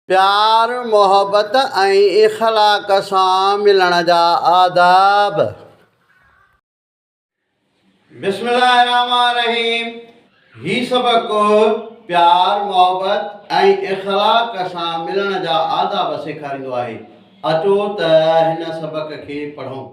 پيار محبت ۽ اخلاق سان ملڻ جا آداب. بسم الله الرحمٰن الرحيم هي سبق پيار محبت ۽ اخلاق سان ملڻ جا آداب سيکاريندو آهي اچو ته هن سبق کي پڙهون.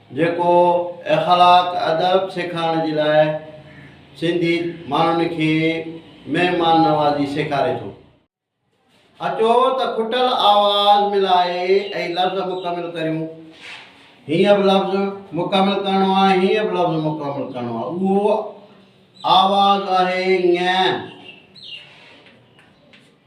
جيڪو اخلاق ادب سيکارڻ جي لاء سنڌي ماڻهن کي مهمان نوازي سيکاري ٿو. اچو ته کٽل آواز ملائي اهي لفظ مڪمل ڪريون. هينئن به لفظ مڪمل ڪرڻو آهي، هينئن به لفظ مڪمل ڪرڻو آهي. اهو آواز آهي، ڱ.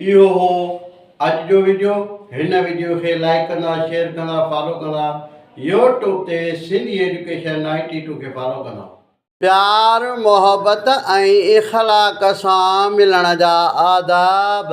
اهو هو اڄ جو ويڊيو هن ويڊيو کي لائيڪ ڪندا شيئر ڪندا فالو ڪندا يو ٽيوب تي سنڌي ايجوڪيشن نائنٽي ٽو کي فالو ڪندا. پيار محبت ۽ اخلاق سان ملڻ جا آداب.